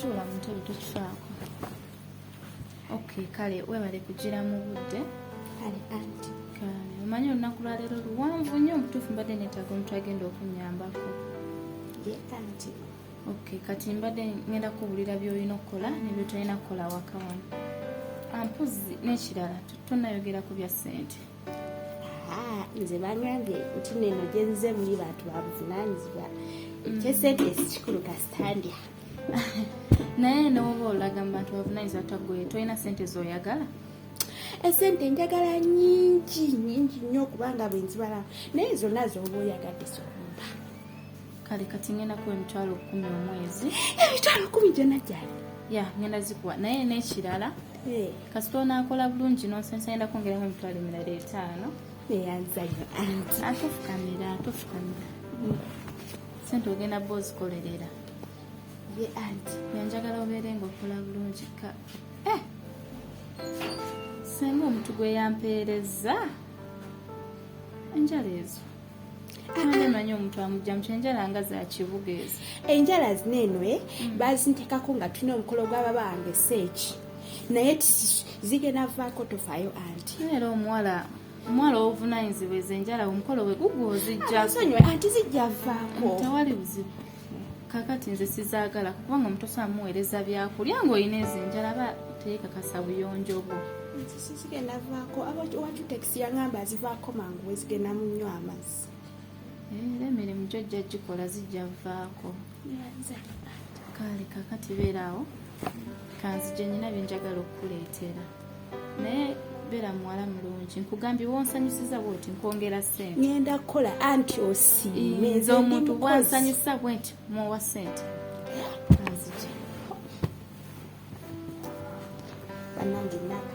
tuula mutebe tokifaako ok kale webale kugira mu budde kale anti omanyi olunaku lwaleero luwanvu nnyo omutuufu mbadde netaga omuntu agenda okunyambako ye anti ok kati mbadde ngenda kubulira byolina okukola nebyotolina kukola waka wano ampuzi ah, nekirala tonayogera ku bya ssente nze bangambye nti neno gyenze muli bantu babuvunanyizibwa ekyesente sikikulu kasitandya naye nowoba olaga mu bantu babuvunanyizibwa tagwe tolina sente zoyagala esente njagala nyingi nyingi nnyo okubanga bwenzibalamu naye zonna zoba oyagadde zona kale kati ngenda kuwa emitwalo kumi omwezi emitwalo kumi gyona gyali ya ngenda zikuwa naye nekirala eh. kasita onakola bulungi nonsonsa ngenda kwongeramu emitwalo emirala etaano eyanzayo anti atofukamira atofukamira mm. sente ogenda ba ozikolerera ye anti yanjagala obeere nga okola bulungi ka eh! senga omuntu gweyampeereza enjala ezo manyi omuntu amujja muky enjala nga zakibuga ezo enjala zina eno e mm. bazintekako nga tulina omukolo gwababa wange seeki naye zigenda vaako tofaayo anti era omuwala omuwala owovunanyizibwa ezo enjala omukolo we gugwa ozijjasonyiwe anti zijja vaako tewali buzibu kakati nze sizagala kubanga omuntu osobola muweereza byakulya ngaolina ezo enjala aba teekakasa buyonjo bwo zigenda vaako abawacutekisi yangamba azivaako mangu wezigenda munywa amazzi eh, era emirimu gyo jja gikola zijja vaako kale kakati beeraawo kanzije nyina byenjagala okukuleetera naye beera muwala mulungi nkugambye wonsanyusiza bwoti nkwongera sente ngenda kukola anti osiime nze omuntu bwansanyusa bwenti muwa sente banange naka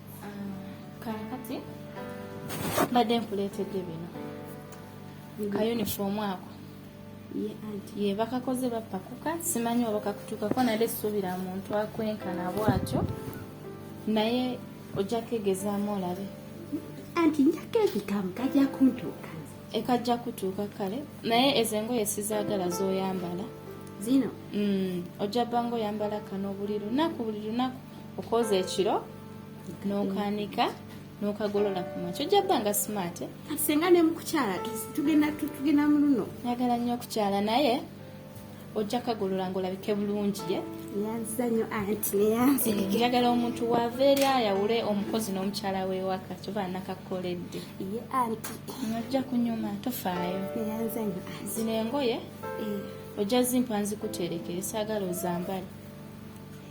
kakati mbadde nkuleetedde bino ka uniform ako ye bakakoze bapakuka simanyi oba kakutuukako nale suubira muntu akwenkana bwatyo naye ojja kegezaamu olabe anti njako ebitamu kajja kuntuuka ekajja kutuuka kale naye ezo engoye sizaagala zoyambala zino mm, ojja banga oyambala kano buli lunaku buli lunaku okwoza ekiro nokanika nokagolola kumakyo ojja bba nga smart eh? kati senga nemukukyala tugenda mu luno njagala nnyo okukyala naye ojja kagolola ngaolabike bulungi ye eh, njagala omuntu wava eri ayawule omukozi n'omukyala wewaka kyoba nakakoledde ojja kunyuma tofaayo zino engoye eh. ojja zimpa nzikuterekere saagala ozambale